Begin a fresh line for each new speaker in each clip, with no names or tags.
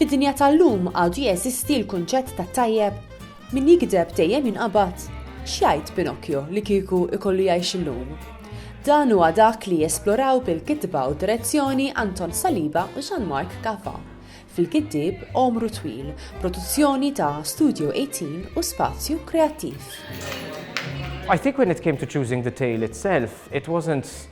Fid-dinja tal-lum għadu jeżisti l-kunċett ta' tajjeb? Min jigdeb dejjem jinqabad. X'jgħid Pinocchio li kieku ikollu jgħix illum? Dan huwa dak li jesploraw bil-kitba u direzzjoni Anton Saliba u Jean-Marc Caffa fil-Giddieb Għomru Twil, produzzjoni ta' Studio 18 u Spazju Kreattiv.
I think when it came to choosing the tale itself, it wasn't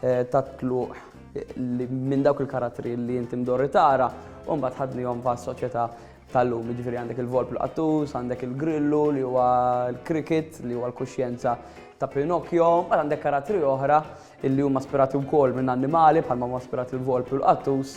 tat-tluq minn dawk il-karattri li inti mdorri tara u mbagħad ħadnihom fas-soċjetà tal-lum. Jiġifieri għandek il-volp l-qattus, għandek il-grillu li huwa l-cricket li huwa l-kuxjenza ta' Pinocchio, mbagħad għandek karattri oħra li huma aspirati wkoll minn annimali bħalma huma aspirati l-volp u l-qattus.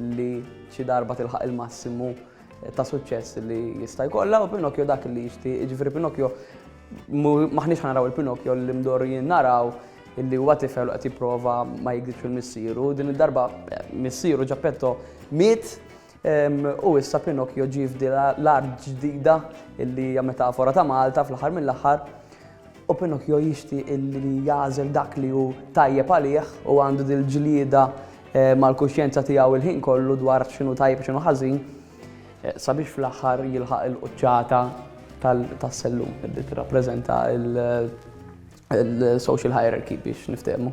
Illi xi darba tilħaq il-massimu ta' suċċess li jista' jkollha u Pinocchio dak li jixtieq, jiġifieri Pinocchio m'aħniex ħa naraw il-Pinocchio li mdorrijin naraw illi huwa tifel u qed jipprova ma jikdibx il-missieru. Din id-darba eh, missieru Ġappetto miet ehm, u issa Pinocchio ġie f'dila l-art ġdida illi hija metafora ta' Malta fl-aħħar mill-aħħar U Pinocchio jixtieq li jagħżel dak li hu tajjeb għalih u għandu dil-ġlieda mal-kuxjenza tiegħu il-ħin kollu dwar x'inhu tajjeb u x'inhu ħażin sabiex fl-aħħar jilħaq il-quċċata tas-sellum li tirrappreżenta l-social hierarchy biex niftehmu.